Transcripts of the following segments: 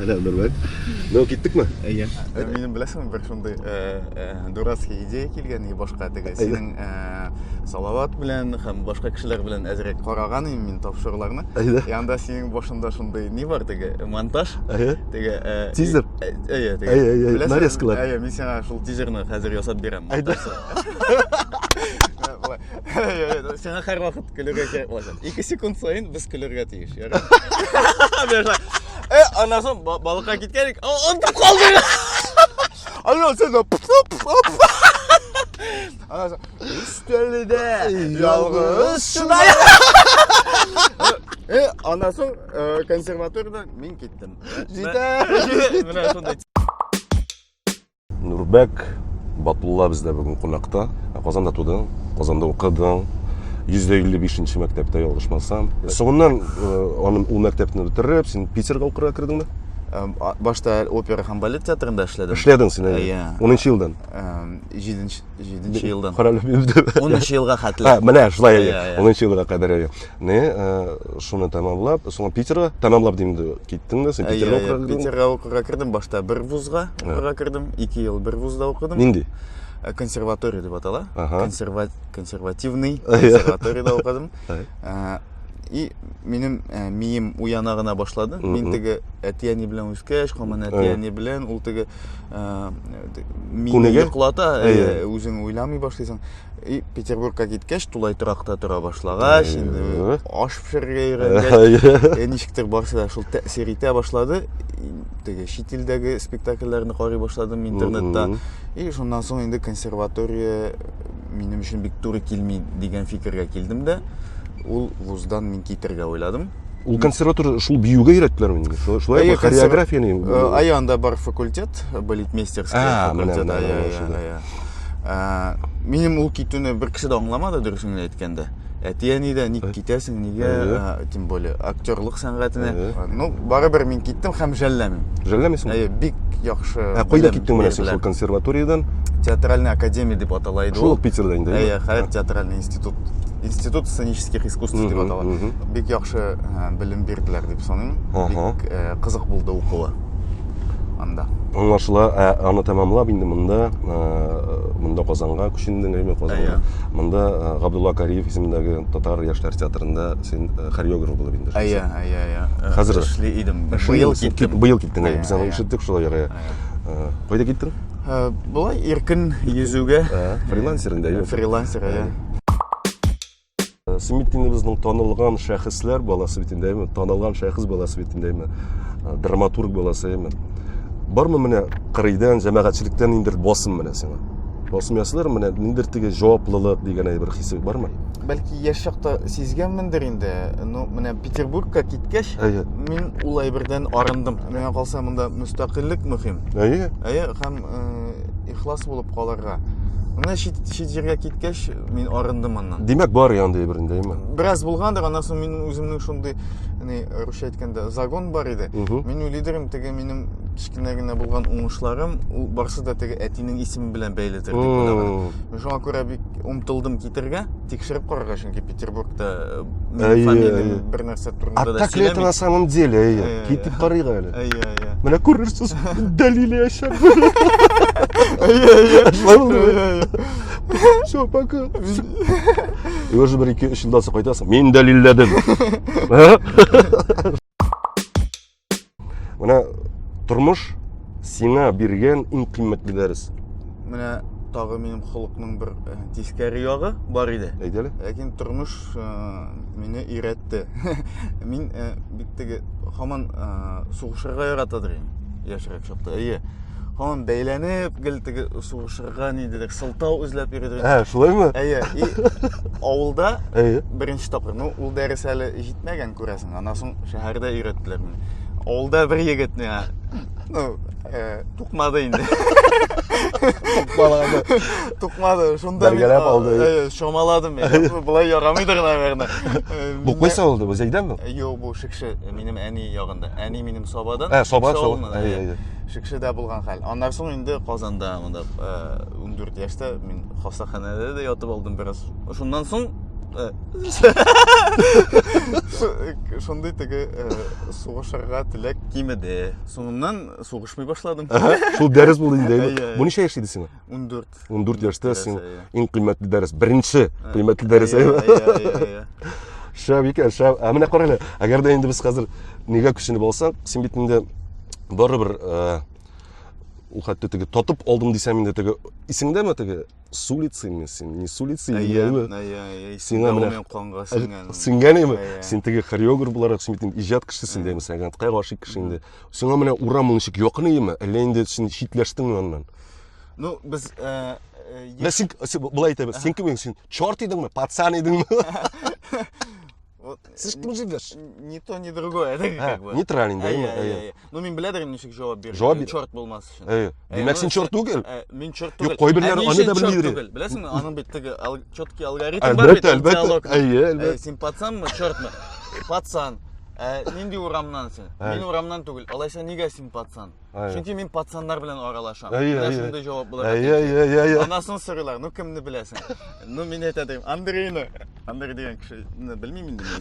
Сәлам, Нурбәк. Ну, киттекме? Әйе. Ә минем беләсеңме бер шундый э, э, дурацкий идея килгән и башка теге синең э, Салават белән һәм башка кешеләр белән әзрәк караган идем мин тапшыруларны. Әйе. Янда синең башында шундый ни бар теге монтаж? Әйе. Теге э, тизер. Әйе, теге. Әйе, әйе. Нарезкалар. Әйе, мин сиңа шул тизерны хәзер ясап бирәм. Әйе. Сиңа һәрвакыт көлергә кирәк булачак. 2 секунд саен без көлергә тиеш, ярый? Э, аннан соң балыкка киткән, онтып калдык. Аннан соң Өстәлдә ялгыз шунай. Э, аннан соң э, консерваториядан мин киттем. Җитә. Менә шундай Нурбәк Батулла бездә бүген кунакта. Ә Казанда тудың, Казанда укыдың. 155 нче мәктәптә ялгышмасам. Соңыннан э, аны ул мәктәпне бетереп, син Питерга укырга кердеңме? Эм, а- Башта опера һәм балет театрында эшләдем. Эшләдең син әле. Иә. 10 елдан. Эм, Җиденче җиденче елдан. Король Лебедев. Унынчы елга хәтле. А, менә шулай Иә, әйе. иә. 10 елга кадәр әйе. Не, шуны тәмамлап, соң Питерга тәмамлап дим инде, киттең дә син Питерга укырга кирдең? Питерга укырга кирдем, башта бер вузга укырга кирдем, 2 ел бер вузда укыдым. Нинди? Э, консерватория дип атала. Консерва... Консервативный консерваторияда укыдым. Э, и минем э, мием уяна гына башлады. Мин теге әтияни белән үскәч, коман әтияни белән ул теге мине йоклата, үзең уйламый башлыйсың. И Петербургка киткәч, тулай торакта тора башлагач, инде Э. аш пешерергә өйрәнгәч, э, ничектер барсы да шул тәэсир итә башлады. И, Теге чит илдәге спектакльләрне карый башладым интернетта. Мгм. И шуннан соң инде консерватория минем өчен бик туры килми дигән фикергә килдем дә, ул вуздан мин китергә уйладым. Ул консерватория шул биюгә өйрәттеләр инде. Шулай бу хореография ни? Ай анда бар факультет, балетмейстерский факультет. Ай, ай, ай. Минем ул китүне бер кеше дә аңламады, дөресен әйткәндә. Әти-әни дә ник китәсең, нигә, тем более, актерлык сәнгатенә. Ну, барыбер мин киттем һәм жәлләмим. Жәлләмисең? Әйе, бик яхшы. Ә кайда киттең менә син шул консерваториядән? Театральная академия дип атала иде ул. Шул Питерда инде. Әйе, хәзер театральный институт. Институт сценических искусств дип атала. бик яхшы э, белем бирделәр дип саныйм. Бик э, кызык булды укуы анда. Аңлашыла, ә аны тәмамлап инде монда э, монда Казанга күчендең әйме Казанга. Монда Габдулла Кариев исемендәге татар яшьләр театрында син хореограф булып инде. Әйе, әйе, әйе. Хәзер эшли идем. Быел киттем. Быел киттең. Без аны ишеттек шулай ярый. Кайда киттең? Болай иркен йөзүгә. Фрилансер инде. Фрилансер, әйе. Светинебезнең танылган шәхесләр баласы бит инде, танылган шәхес баласы бит инде, драматург баласы инде. Бармы менә кырыйдан, җәмәгатьчелектән инде басым менә сиңа? Басым ясылар менә ниндер теге җаваплылык дигән әйбер хисе бармы? Бәлки яшь чакта сизгәнмендер инде. Ну, менә Петербургка киткәч, әйе. мин ул әйбердән арындым. Менә калса монда мөстәкыйльлек мөһим. Әйе. Әйе, һәм э, ихлас булып калырга. Менә чит, чит җиргә киткәч, мин арындым аннан. Димәк, бар янды бер инде, әйме? Бераз булгандыр, аннан соң мин үземнең шундый, ни, русча әйткәндә, загон бар иде. Мин уйлыйдырым, теге минем кечкенә генә булган уңышларым, ул барсы да теге әтинең исеме белән бәйледер дип уйлаган. Мин шуңа күрә бик омтылдым китергә, тикшереп карарга, чөнки Петербургта э, Әйе, фамилия әйе. бер нәрсә А турында да так ли это на сөйләмик. самом деле? Әйе, Әйе, әйе. китеп карыйк әле. Әйе, әйе. Менә күрерсез, дәлиле яшәп. Әйе, әйе. Шулай булды. Әйе, әйе. Все, пока. И уже бер ике өч елдан соң кайтасың. Мин дәлилләдем. Ә? Менә тормыш сиңа биргән иң кыйммәтле дәрес. Менә тагы минем холыкның бер э, тискәре ягы бар иде. Әйт әле. Ләкин тормыш э, мине өйрәтте. Мин э, бик теге һаман сугышырга яратадыр идем яшьрәк чакта. Әйе. Һаман бәйләнеп, гел теге сугышырга нидедер сылтау эзләп йөрдем. Ә, шулаймы? Әйе. И авылда беренче тапкыр. Ну, ул дәрес әле җитмәгән күрәсең. Аннан соң шәһәрдә өйрәттеләр мине. Авылда бер егет миңа ну, э, тукмады инде. Тукмады. Тукмады. Шунда бергәләп алды. Э, шомаладым мин. Булай ярамыйдыр, наверное. Э, бу кайсы авылда? Бу Зәйдән бу? Юк, бу Шикше, минем әни ягында. Әни минем Сабадан. Ә, Саба, Саба. Әй, әй, әй. Шикшедә булган хәл. Аннан соң инде Казанда, монда 14 яшьтә мин хастаханәдә дә ятып алдым бераз. Шуннан соң шундый теге э, сугышырга теләк кимеде соңыннан сугышмый башладым шул дәрес булды инде бу ничә яшь иде сиңа он дүрт он дүрт яшьтә син иң кыйммәтле дәрес беренче кыйммәтле дәрес шәп икән шәп ә менә карале әгәр дә инде без хәзер нигә күченеп алсак син бит инде барыбер ул хәтта теге татып алдым дисәм инде теге исеңдәме теге с улицы инде син не с улицы сиңа менә канга сеңгән сеңгән инде син теге хореограф буларак син бит инде иҗат кешесе инде сәнгатькә гәнткә гашыйк кеше инде сиңа менә урам ул ничек якын иеме әллә инде син читләштеңме аннан ну без э, э, син былай әйтәбез син кем син черт идеңме пацан идеңме Вот, э, Сез кем җибдерш? Ни то, ни другое. Это как бы. Нейтрален, да? Әйе, әйе, әйе. Ну, мин беләдер ничек җавап бирдем. Җавап бир. Чорт булмас өчен. Әйе. Димәк, син чорт түгел? Мин чорт түгел. Юк, кайберләр аны да белми йөри. Беләсеңме, аның бит теге четкий алгоритм бар бит. Әлбәттә, әлбәттә. Әйе, әлбәттә. Син пацанмы, чортмы? Пацан. Ә нинди урамнан син? Мин урамнан түгел. Алайса нигә син пацан? Әйе. Чөнки мин пацаннар белән аралашам. Әйе, Менә әйе. шундый җавап була. Әйе, әйе, әйе, әйе. Анасын сорыйлар, ну кемне беләсең? Ну мин әйтә дим, Андрейны. Андрей дигән кешене белмим инде мин.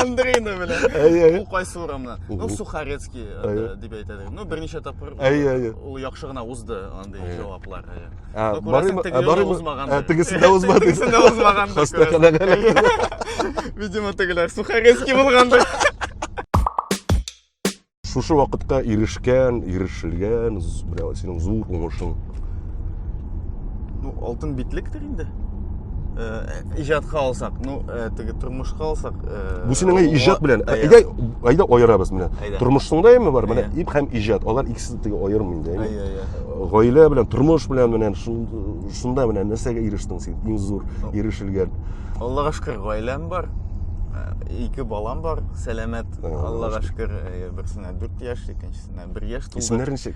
Андрейны беләм. Әйе, әйе. Ул кайсы урамнан? Ну Мгм. Сухарецкий э, Әйе. дип әйтә дим. Ну берничә тапкыр ул- Әйе, әйе. ул яхшы гына узды андый Әйе. җаваплар. әйе. Ә, Ну, күрәсең, барыйм- теге ә, юлы барыйм- узмагандыр. ә, Тегесен дә узмады. Тегесен дә узмагандыр, Хастаханәгә эләкте. Видимо, тегеләр Сухарецкий булгандыр. шушы вакытка ирешкән ирешелгән менә синең зур уңышың ну алтын битлектер инде э, иҗатка алсак ну э, теге тормышка алсак э, бу синең иҗат белән әйдә әйдә аерабыз менә тормышның да эме бар менә ип һәм иҗат алар икесе теге аерым инде гаилә белән тормыш белән менә шунда менә нәрсәгә ирештең син иң зур ирешелгән аллага шөкер гаиләм бар ике балам бар сәламәт Аллага шөкер, э, берсенә 4 яшь, икенчесенә 1 яшь тулды. Исемнәр ничек?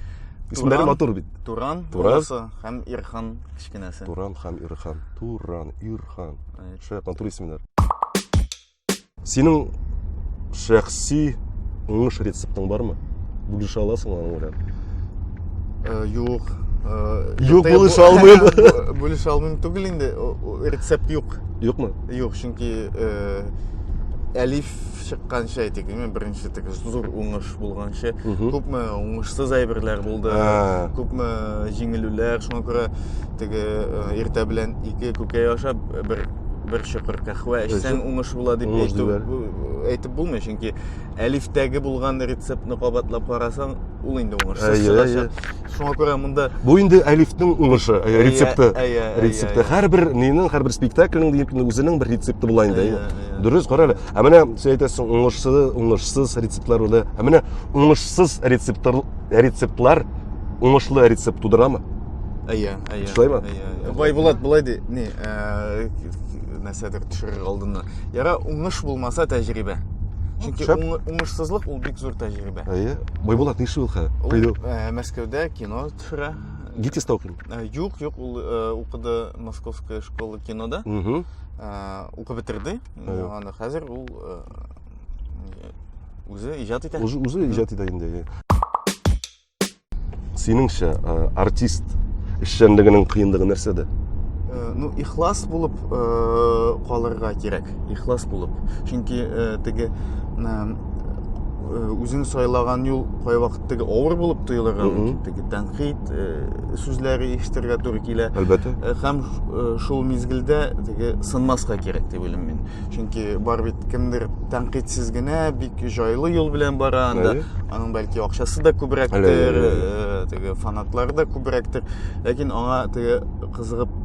Исемнәре матур бит. Туран, Туран һәм Ирхан кечкенәсе. Туран һәм Ирхан. Туран, Ирхан. Шәп матур исемнәр. Синең шәхси уңыш рецептың бармы? Бүлешә аласың аны белән? Э, юк. Э, юк бүлешә алмыйм. Бүлешә алмыйм түгел инде. Рецепт юк. Юкмы? Юк, чөнки әлиф чыкканчы әйтик инде беренче теге зур уңыш булганчы күпме уңышсыз әйберләр булды күпме җиңелүләр шуңа күрә теге иртә белән ике күкәй ашап бер бер чокыр кәхвә эчсәң уңыш була дип әйтеп булмый чөнки әлифтәге булган рецептны кабатлап карасаң ул инде уңышсыз чыгачак шуңа күрә монда бу инде әлифнең уңышы рецепты рецепты һәрбер нинең һәрбер спектакльнең үзенең бер рецепты була инде дөрес кара әле Ә менә син әйтәсең, уңышсыз, уңышсыз рецептлар үлә. Ә менә уңышсыз рецептлар, рецептлар уңышлы рецепт тудырамы? Әйе, әйе. Шулаймы? Бай Булат былай ди, ни, э, нәрсәдер төшерер алдына. Яра уңыш булмаса тәҗрибә. Чөнки Шәп. уңы- уңышсызлык ул бик зур тәҗрибә. Әйе. Байбулат нишле ул хәзер? Ул, Кайда? э, Мәскәүдә кино төшерә. Гитиста укыйм. Э, Юк, юк, ул э, укыды Московская школа кинода. Мгм. Э, Укып бетерде. Аны хәзер ул үзе иҗат итә. Үзе иҗат итә инде. Синеңчә, артист эшчәнлегенең кыендыгы нәрсәдә? ну ихлас булып калырга кирәк ихлас булып чөнки теге э, үзең сайлаган юл кайвакыт теге авыр булып тоелырга мөмкин теге тәнкыйть э, сүзләре ишетергә туры килә әлбәттә э, һәм шул мизгелдә теге сынмаска кирәк дип уйлыйм мин чөнки бар бит кемдер тәнкыйтьсез генә бик җайлы юл белән бара анда аның бәлки акчасы да күбрәктер теге фанатлары да күбрәктер ләкин аңа теге кызыгып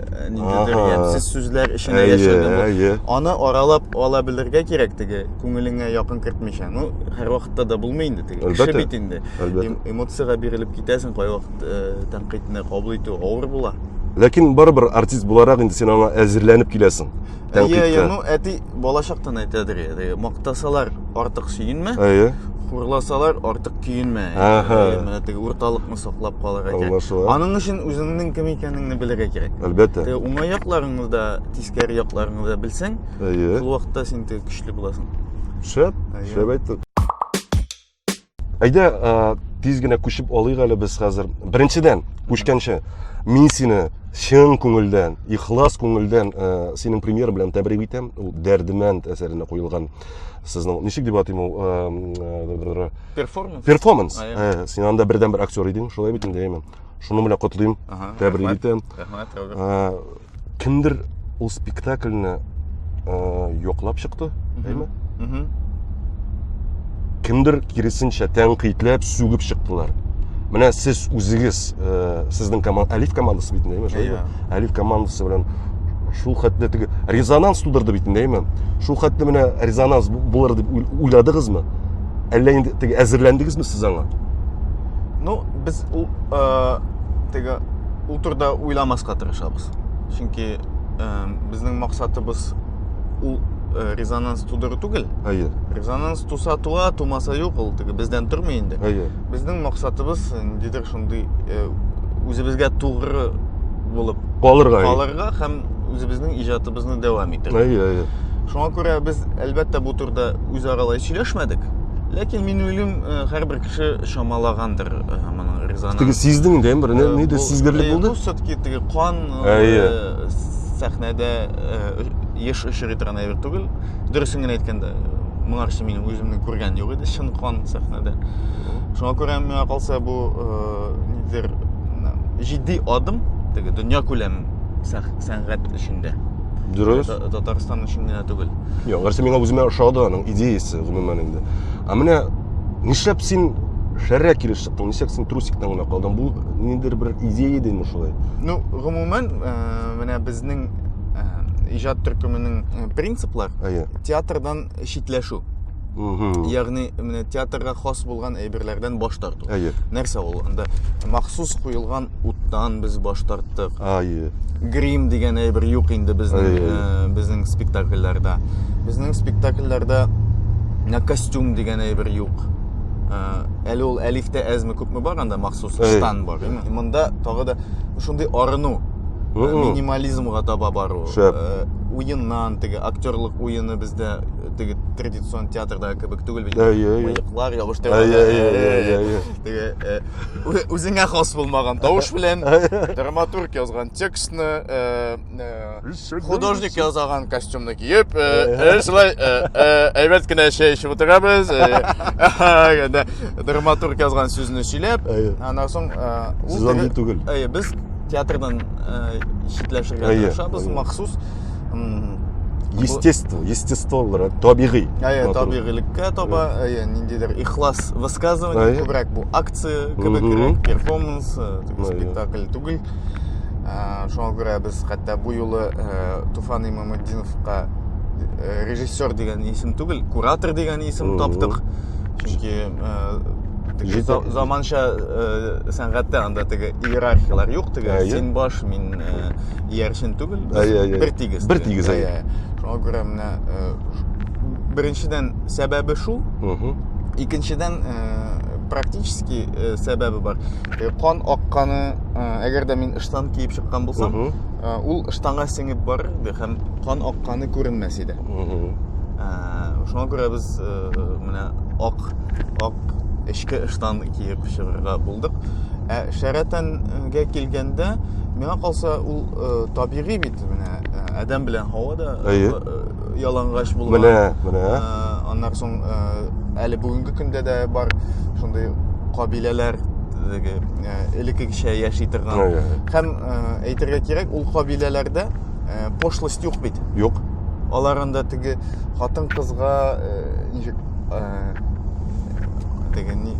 ниндидер Ага. ямьсез сүзләр эченә Әйе, яшерде бу. әйе. Аны аралап ала белергә кирәк теге күңелеңә якын кертмичә. Ну, һәрвакытта да булмый инде теге. Кеше Әлбәттә. бит инде. Әлбәттә. Эм- Эмоциягә бирелеп китәсең, кайвакыт э, тәнкыйтьне кабул итү авыр була. Ләкин барыбер артист буларак инде син аңа әзерләнеп киләсең. Әйе, әйе, Алпитка. ну әти балачактан әйтәдер иде. Теге, Мактасалар артык сөенмә, Әйе. хурласалар артык көенмә. Аха. Әйе, Менә теге урталыкны саклап калырга кирәк. Аңлашыла. Аның өчен үзеңнең кем икәнеңне белергә кирәк. Әлбәттә. Теге уңай якларыңны да, тискәре якларыңны да белсәң, Әйе. шул вакытта син теге көчле буласың. Шәп, Әйе. шәп әйттең. Әйдә, э, тиз генә күчеп алыйк әле без хәзер. Беренчедән, күчкәнче, мин сине чын күңелдән, ихлас күңелдән ә, э, синең премьер белән тәбрик итәм. Ул Дәрдемәнд әсәренә куелган сезнең ничек дип атыйм ул э, перформанс. Перформанс. Ә, син анда бердәнбер актер идең, шулай бит инде, әйме. Шуның белән котлыйм, тәбрик итәм. Рәхмәт, кемдер ул спектакльне э, яклап чыкты әйме Мгм. кемдер киресенчә тәнкыйтьләп сүгеп чыктылар менә сез үзегез э, сезнең команда әлиф командасы бит инде, әйме шулай Иә. бит? әлиф командасы белән шул хәтле теге резонанс тудырды бит инде әйме шул хәтле менә резонанс бу- булыр дип уйл- уйладыгызмы әллә инде теге әзерләндегезме сез аңа Ну, без ул э, теге ул турыда уйламаска тырышабыз чөнки ә, безнең максатыбыз ул ә, резонанс тудыру түгел әйе резонанс туса туа тумаса юк ул теге бездән тормый инде әйе безнең максатыбыз ниндидер шундый ә, үзебезгә тугры булып калырга калырга һәм үзебезнең иҗатыбызны дәвам итәргә әйе әйе шуңа күрә без әлбәттә бу турыда үзара сөйләшмәдек ләкин мин уйлыйм һәрбер яхшы чамалагандыр э, моның резонанс. Теге сиздең инде, бер э, нидер сизгерлек булды. Бу все-таки теге кан э, сәхнәдә еш очрый торган әйбер түгел. Дөресен генә әйткәндә, моңарчы минем үземне күргән юк иде, чын кан сәхнәдә. Шуңа күрә миңа калса бу нидер җитди адым, теге дөнья күләм сәнгать эшендә. Дөрес. Татарстан өчен генә түгел. Юк, гәрчә миңа үземә ошады аның идеясе, гомумән инде. Ә менә нишләп син шәррә килеш чыктың? Нишләп син трусиктан гына калдың? Бу ниндер бер идея иде инде шулай. Ну, гомумән, э, менә безнең э, иҗат төркеменең э, принциплар Әйе. театрдан читләшү. Мгм. Ягъни менә театрга хас булган әйберләрдән баш тарту. Әйе. Нәрсә ул? Анда махсус куелган Уттан без баш тарттык. Ае. Грим дигән әйбер юк инде безнең э, безнең спектакльләрдә. Безнең спектакльләрдә костюм дигән әйбер юк. Э, әле ул әлифтә әзме күпме бар анда махсус штан бар. Монда тагы да шундый арыну э, минимализмга таба бару. Уеннан теге актерлык уены бездә теге традицион театрда кебек түгел бит. Мыеклар ябыштырып. Теге үзеңә хас булмаган тавыш белән драматург язган текстны э, э, художник язаган костюмны киеп э, шулай әйбәт кенә чәй эчеп утырабыз драматург язган сүзне сөйләп аннан соң ул түгел без театрдан читләшергә тырышабыз махсус естество естество булыр табигый әйе табигыйлеккә таба әйе ниндидер ихлас высказывание күбрәк бу акция кебегрәк перформанс спектакль түгел шуңа күрә без хәтта бу юлы туфан имаматдиновка режиссер дигән исем түгел куратор дигән исем таптык чөнки заманча сәнгатьтә анда теге иерархияләр юк теге син баш мин иярчен түгел ә, ә, ә, бер тигез бер тигез ә, ә, ә. шуңа күрә менә ә, беренчедән сәбәбе шул икенчедән ә, практически ә, сәбәбе бар ә, кан акканы ә, әгәр дә мин ыштан киеп чыккан булсам ә, ул ыштанга сеңеп барыр иде һәм кан акканы күренмәс иде ә, шуңа күрә без ә, менә ак ак эчке ыштан киеп чыгарга булдык ә шәрәтән Гә килгәндә, миңа калса, ул э, табигый бит менә э, адәм белән һава да э, Әйе. э, ялангач булган. Менә, менә. Э, аннан соң э, әле бүгенге көндә дә бар шундый кабиләләр теге э, элеккечә яши торган. Әйе, әйе. Һәм э, әйтергә кирәк, ул кабиләләрдә э, пошлость юк бит. Юк. Алар анда теге хатын-кызга э, ничек э, теге ни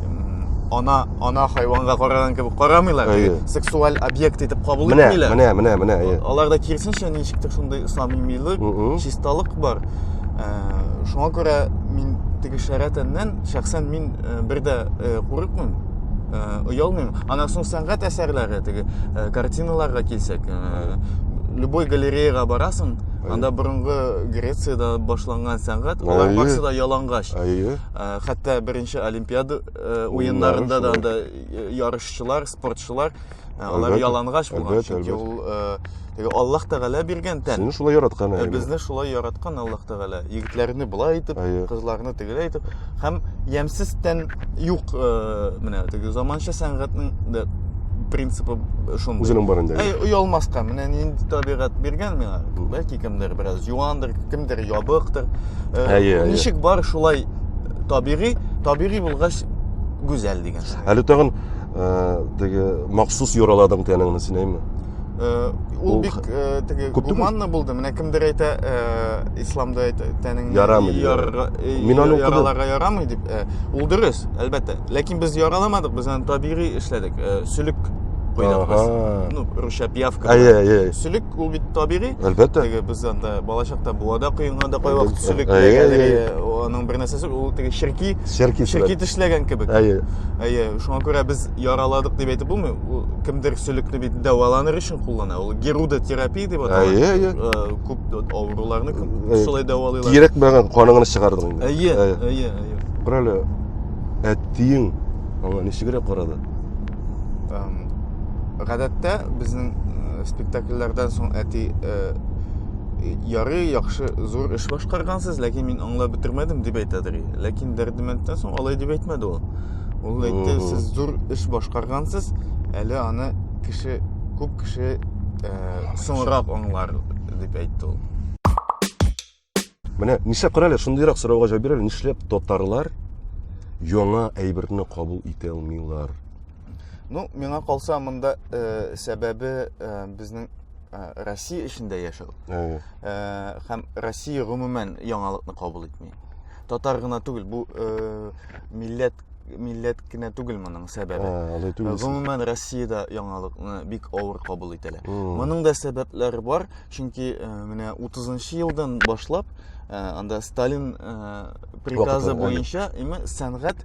ана ана хайванга караган кебек карамыйлар әйе сексуаль объект итеп кабул итмиләр менә менә менә әйе аларда киресенчә ничектер шундый самимилык чисталык бар э, шуңа күрә мин теге шәрә тәннән шәхсән мин э, бер дә курыкмыйм оялмыйм аннан соң сәнгать әсәрләре теге картиналарга килсәк любой галереяга барасың Анда борынгы Грециядә башланган сәнгать, алар барысы да ялангач. Әйе. Хәтта беренче Олимпиада уеннарында да анда ярышчылар, спортчылар алар ялангач булган, чөнки ул теге Аллаһ Тәгалә биргән тән. Сезне шулай яраткан әйе. Безне шулай яраткан Аллаһ Тәгалә. Егетләрне болай итеп, кызларны тегеләй итеп. һәм ямьсез тән юк э, менә теге заманча сәнгатьнең дә принципы шундый үзенең барында Әй, оялмаска менә нинди табигать биргән миңа бәлки кемдер бераз юандыр кемдер ябыктыр Э, Әйе, әйе. ничек бар шулай табигый табигый булгач гүзәл дигән әле тагын э, теге махсус юраладың тәнеңне син әйме Э, ул бик э, теге гуманны булды менә кемдер әйтә э, исламда әйтә тәнеңне ярамый мин аны яраларга ярамый дип ул дөрес әлбәттә ләкин без яраламадык без аны табигый эшләдек сөлек куйдык без ну русча пиявка сөлек ул бит табигый әлбәттә теге без анда балачакта буада коенганда кай вакыт сөлек аның бер нәрсәсе ул теге черки черки тешләгән кебек әйе әйе шуңа күрә без яраладык дип әйтеп булмый. Ул кемдер сөлекне бит дәваланыр өчен куллана. Ул герудотерапия дип атала. Әйе, әйе. Э, Күп авыруларны күп Әйе. шулай дәвалыйлар. Кирәкмәгән каныңны чыгардың инде. Әйе, Әйе. әйе, әйе. Күрәле, әттиең аңа ничегрәк карады? Эм, Гадәттә безнең э, спектакльләрдән соң әти э, ярый, яхшы, зур эш башкаргансыз, ләкин мин аңлап бетермәдем дип әйтәдер. Ләкин Дәрдемәндтән соң алай дип әйтмәде ул. Ул әйтте, сез зур эш башкаргансыз, әле аны кеше, күп кеше ә, соңрак аңлар дип әйтте ул. Менә нишлә күрәле, шундыйрак сорауга җавап бирәле, нишләп татарлар яңа әйберне кабул итә алмыйлар? Ну, миңа калса, монда ә, сәбәбе ә, безнең ә, Россия эчендә яшәү. Ә, һәм Россия гомумән яңалыкны кабул итми. Татар гына түгел, бу э, милләт милләт кенә түгел моның сәбәбе. Ә, алай түгел. Гомумән Россиядә яңалыкны бик авыр кабул итәләр. Моның да сәбәпләре бар, чөнки э, менә 30 елдан башлап э, анда Сталин э, приказы Вакытын, буенча именно сәнгать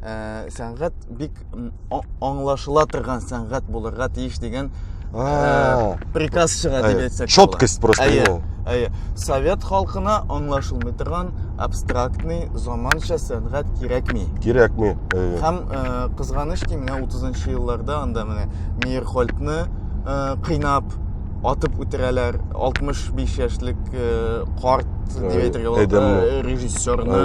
ә, сәнгать бик аңлашыла торган сәнгать булырга тиеш дигән ә, приказ чыга дип әйтсәк четкость просто әйе, әйе совет халкына аңлашылмый торган абстрактный заманча сәнгать кирәкми кирәкми әйе һәм ә, кызганыч ки менә утызынчы елларда анда менә мейерхольдны ә, кыйнап атып үтерәләр 65 яшьлек э, карт дип әйтергә режиссерны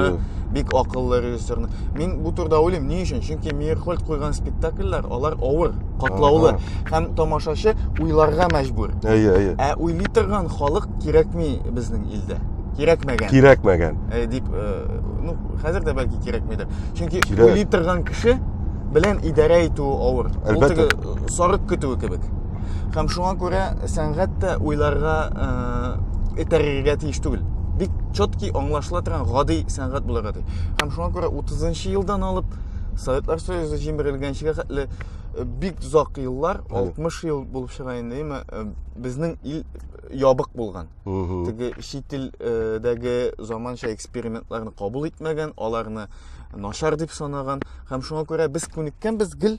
бик акыллы режиссерны. Мин бу турыда уйлыйм. Ни өчен? Чөнки Мейерхольд куйган спектакльләр, алар авыр, катлаулы һәм тамашачы уйларга мәҗбүр. Әйе, әйе. Ә уйлый торган халык кирәкми безнең илдә. Кирәкмәгән. Кирәкмәгән. Ә, дип, э, ну, хәзер дә бәлки кирәкмидер. Чөнки Кирәк. уйлый торган кеше белән идарә итү авыр. Ул теге сарык көтүе кебек. Һәм шуңа күрә сәнгать тә уйларга э, этәрергә тиеш түгел. Бик четкий аңлашыла торган гади сәнгать булырга китте һәм шуңа күрә утызынчы елдан алып советлар союзы җимерелгәнчегә хәтле э, бик озак еллар 60 ел булып чыга инде әмма э, безнең ил ябык булган теге чит илдәге заманча экспериментларны кабул итмәгән аларны начар дип санаган һәм шуңа күрә без күнеккәнбез гел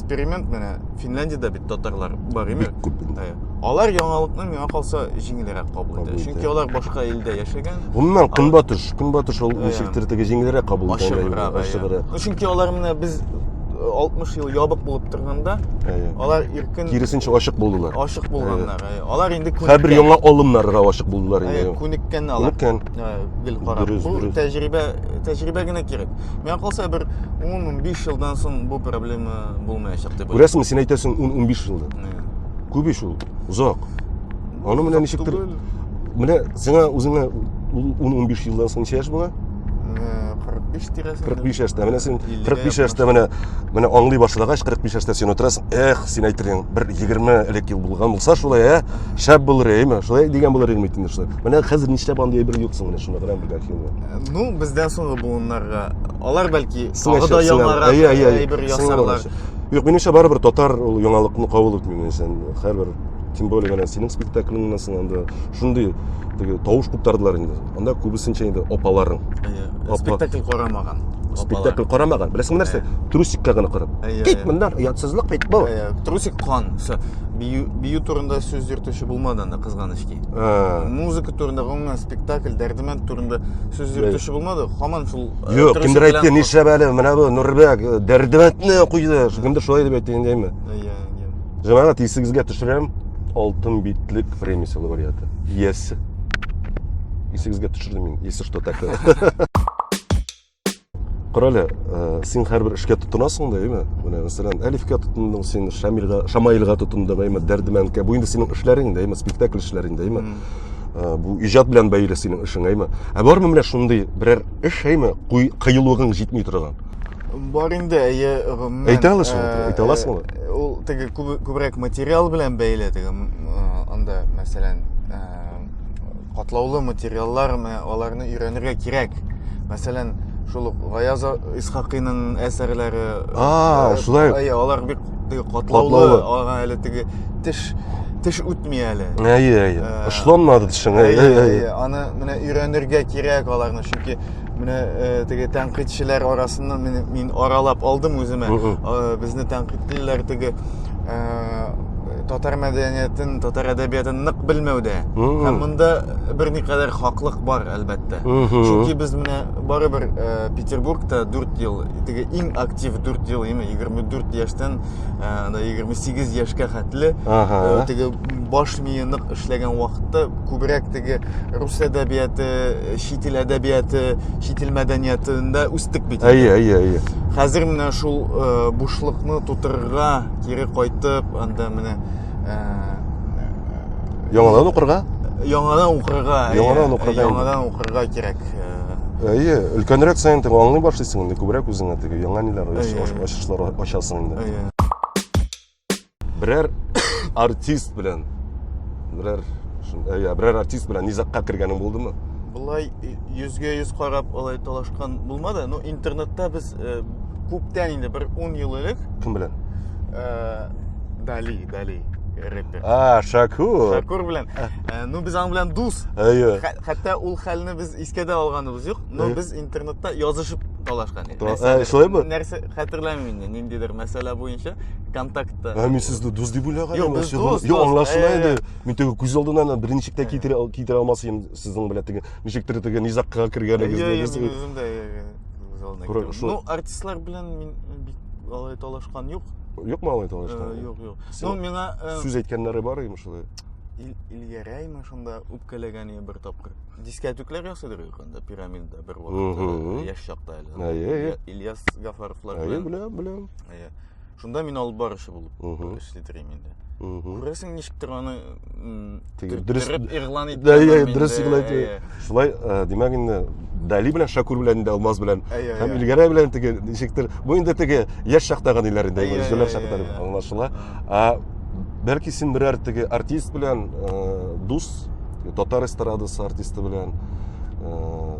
эксперимент менә финляндиядә бит татарлар бар имя бик күп инде ә, алар яңалыкны миңа калса җиңелрәк кабул итә чөнки алар башка илдә яшәгән гомумән көнбатыш көнбатыш ул ничектер теге җиңелрәк кабул итә ачыграк ну чөнки алар менә без 60 ел ябык булып торганда алар иркен киресенчә ачык булдылар ачык булганнар алар инде хәбер яңа алымнарга ачык булдылар инде күнеккән алар күнеккән гел карап бу тәҗрибә тәҗрибә генә кирәк миңа калса бер ун ун биш елдан соң бу проблема булмаячак дип күрәсеңме син әйтәсең ун ун биш елда күп ич ул озак аны менә ничектер менә сиңа үзеңә ун ун биш елдан соң ничә яшь була кырык биш тирәсендә кырык биш яшьтә менә син кырык биш яшьтә менә менә аңлый башлагач кырык биш яшьтә син утырасың эх син әйтерең бер егерме элек ел булган булса шулай ә шәп булыр әйме шулай дигән булыр идем бит инде шулай менә хәзер нишләп андый әйбер юк соң менә шуны гына белгән Ну, бездән соңгы буыннарга. Алар бәлки тагы да яңарак әйбер ясарлар. Юк, минемчә барыбер татар ул яңалыкны кабул итми минемчән. Һәрбер тем более менә синең спектакльңнан соң анда шундый теге тавыш куптардылар инде. Анда күбесенчә инде апаларың. Әйе. Спектакль карамаган. Спектакль карамаган. Беләсеңме нәрсә? Трусикка гына карап. Кит моннан, ятсызлык бит бу. Трусик кан. Все. Бию, бию турында сүз йөртүче булмады анда кызганыч ки. Музыка турында гомумән спектакль дәрдемәнд турында сүз йөртүче булмады һаман шул э, юк трусик кемдер белән әйтте кор- нишләп әле менә бу нурбәк э, дәрдемәндне куйды кемдер шулай дип әйтте инде әйме Иә, иә. җәмәгать исегезгә төшерәм алтын битлек время силовариаты иясе исегезгә төшердем мин если что такое Карале, э, син һәрбер эшкә тотынасың да, әйме? Менә мәсәлән, Әлифкә тотындың, син Шамилга, Шамаилга тотындың, әйме, Дәрдемәнкә. Бу инде синең эшләрең дә, әйме, спектакль эшләрең дә, әйме. Э, бу иҗат белән бәйле синең эшең, әйме. Ә бармы менә шундый берәр эш, әйме, кыюлыгың җитми торган? Бар инде, әйе, гомумән. Әйтә аласың, э, әйтә аласың. Ул теге күбрәк материал белән бәйле, теге анда, мәсәлән, катлаулы материаллармы аларны өйрәнергә кирәк мәсәлән шул ук гаяз исхакыйның әсәрләре а э, шулай әйе алар бик катлаулы ага әле теге теш теш үтми әле әйе әйе э, ышламады тешең әйе әйе аны менә өйрәнергә кирәк аларны чөнки менә э, теге тәнкыйтьчеләр арасыннан мин, мин аралап алдым үземә безне тәнкыйтьлиләр теге Татар мәдәниятен, татар әдәбиятын нык белмәүдә. Һәм монда берникадәр хаклык бар, әлбәттә. Чөнки без менә барыбер э, Петербургта 4 ел, теге иң актив 4 ел, яме 24 яшьтән э, анда 28 яшькә хәтле э, теге баш мие нык эшләгән вакытта күбрәк теге рус әдәбияты, чит ил әдәбияты, чит ил мәдәниятында үстек бит. Әйе, әйе, әйе. Хәзер менә шул бушлыкны тутырырга кире кайтып анда менә ә, яңадан укырга яңадан укырга яңадан укырга яңадан укырга кирәк әйе өлкәнрәк саен теге аңлый башлыйсың инде күбрәк үзеңә теге яңа ниләр ачышлар ачасың инде берәр артист белән берәр әйе берәр артист белән низагка кергәнең булдымы былай йөзгә йөз карап алай талашкан булмады но интернетта без э, күптән инде бер ун ел элек кем белән э, дали дали рэпер а шакур шакур белән э, ну без аның белән дус әйе хәтта ул хәлне без искә дә алганыбыз юк но без интернетта язышып талашкан идек шулаймы нәрсә хәтерләмим инде ниндидер мәсьәлә буенча контактта ә мин сезне дус дип уйлаган юк без дус юк аңлашыла иде мин теге күз алдына берничек тә китерә алмас идем Сезнең белән теге ничектер теге низакка кергәнегезне Ну, артистлар белән мин бик алай талашкан юк. Юкмы алай талашкан? Юк, юк. Ну, миңа сүз әйткәннәре бар име шулай? Илгәрәйме шунда үпкәләгән иде бер тапкыр. Дискәтүкләр ясыйдыр анда пирамида бер вакытта яшь чакта әле. Ильяс Гафаровлар. Әйе, беләм, беләм. Әйе. Шунда мин алып баручы булып эшли торыйм инде. Күрәсең, ничектер аны дөрес игълан итә. Дә, дә, дөрес игълан итә. Шулай, димәк инде Дали белән Шакур белән инде Алмаз белән һәм Илгәрә белән теге ничектер бу инде теге яшь чактагы ниләр инде, җүләр чакта аңлашыла. А бәлки син берәр теге артист белән дус татар эстрадасы артисты белән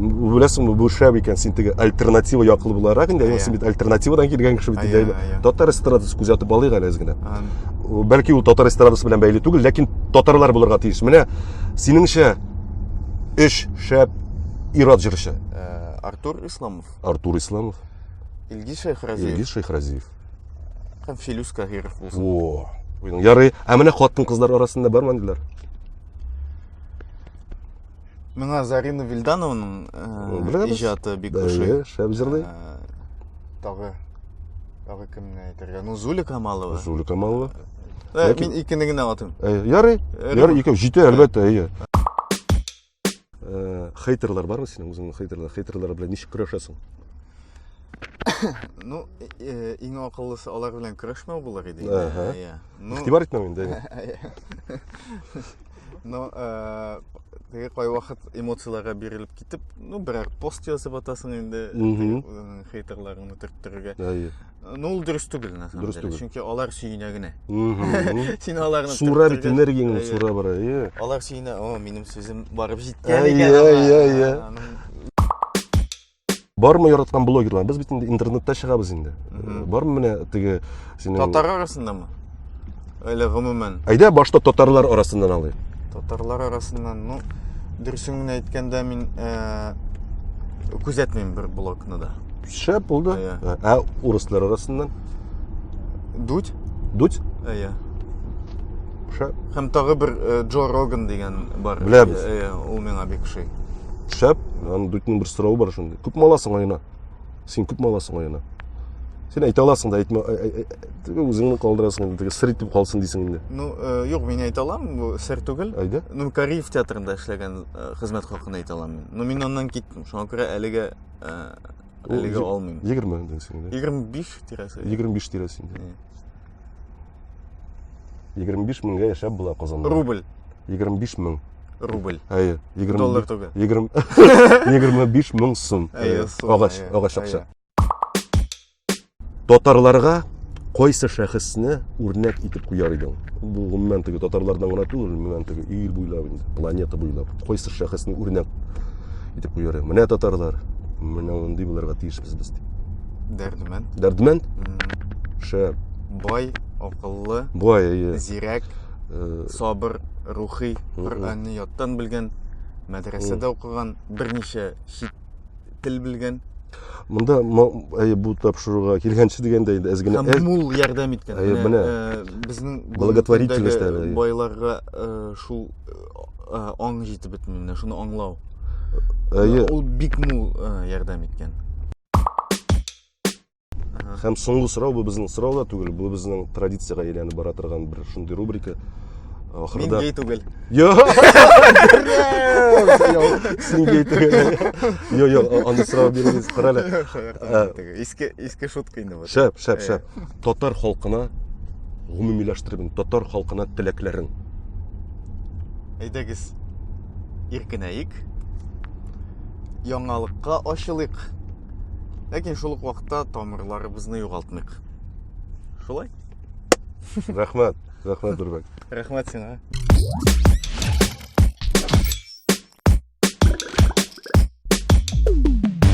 беләсеңме бу шәп икән син теге альтернатива яклы буларак инде әйе син бит альтернативадан килгән кеше бит инде татар эстрадасы күзәтеп алыйк әле генә бәлки ул татар эстрадасы белән бәйле түгел ләкин татарлар булырга тиеш менә синеңчә өч шәп ират җырчы э, артур исламов артур исламов илгиз шәйхразиев илгиз шәйхразиев һәм филюс каһиров булсын о ярый ә менә хатын кызлар арасында бармы диләр Миңа Зарина Вильдановның э, иҗаты бик ошый. Шәп җырлый. Э, тагы тагы кемне әйтергә? Ну, Зуля Камалова. Зуля Камалова. Э, мин икене генә атыйм. Ярый. Ярый, икәү җитә, әлбәттә, әйе. Хейтерлар бармы синең үзеңнең хейтерлар? Хейтерлар белән ничек көрәшәсең? ну иң акыллысы алар белән көрәшмәү булыр иде. Ага. Ну, Игътибар итмәү инде. но э, теге кайвакыт эмоцияләргә бирелеп китеп ну берәр пост язып атасың инде э, хейтерларыңны төрттерергә әйе ну ул дөрес түгел на самом деле чөнки алар сөенә генә син аларны сура бит энергияңне сура бара әйе алар сөенә о минем сүзем барып җиткән икән әйе әйе әйе бармы яраткан блогерлар без бит инде интернетта чыгабыз инде э, бармы менә теге синең татар арасындамы әле гомумән әйдә башта татарлар арасыннан алыйк татарлар арасыннан ну дөресен генә әйткәндә мин э, күзәтмим бер блогны да шәп булды ә, ә урыслар арасыннан дудь дудь әйе Шәп. Һәм тагы бер э, Джо Роган дигән бар. Беләбез. Э, э, Ул миңа бик ошый. Шәп. Аны дүтнең бер сорауы бар шундый. Күп маласың айына? Син күп маласың айына? Син әйтә аласың да әйтмә, ә- ә- ә- теге үзеңне калдырасың инде, теге сыр итеп калсын дисең инде. Ну, э, юк, мин әйтә алам, бу сер түгел. Әйдә. Ну, Кариев театрында эшләгән э, хезмәт хакын әйтә алам мин. Ну, мин аннан киттем. Шуңа күрә әлегә э, Ул әлегә е- алмыйм. 20 дисең инде. 25 тирәсе. 25 тирәсе инде. Э, 25 меңгә яшәп була Казанда. Рубль. 25 мең. Рубль. Әйе. 20 Доллар түгел. 20 25 мең сум. Әйе, сум, Агач, әйе, агач акча. әйе. Татарларга кайсы шәхесне үрнәк итеп куяр идең? Бу гомумән теге татарлардан гына түгел, гомумән теге ил буйлап инде, планета буйлап. Кайсы шәхесне үрнәк итеп куяр идем. Менә татарлар, менә мондый булырга тиешбез без дип. Дәрдемәнд. Дәрдемәнд? Шәп. Бай, акыллы. Бай, әйе. Зирәк, э, сабыр, рухи, Коръәнне яттан белгән, мәдрәсәдә укыган, берничә чит тел белгән. Монда әйе бу тапшыруга килгәнче дигәндә инде әз генә мул ярдәм иткән. Әйе, менә э, безнең благотворительность байларга э, шул э, аң җитеп бетми менә шуны аңлау әйе ул бик мул э, ярдәм иткән һәм соңгы сорау бу безнең сорау да түгел бу безнең традициягә әйләнеп бара торган бер шундый рубрика ахырда мин гей түгел син гей түгел йо йо аны сорау бирегез карале иске иске шутка инде шәп шәп шәп Татар халкына гомумиләштереп, татар халкына теләкләрен. Әйдәгез, иркенәек, яңалыкка ачылыйк. Ләкин шул ук вакытта тамырларыбызны югалтмыйк. Шулай? Рәхмәт, рәхмәт Дөрбәк. Рәхмәт сиңа.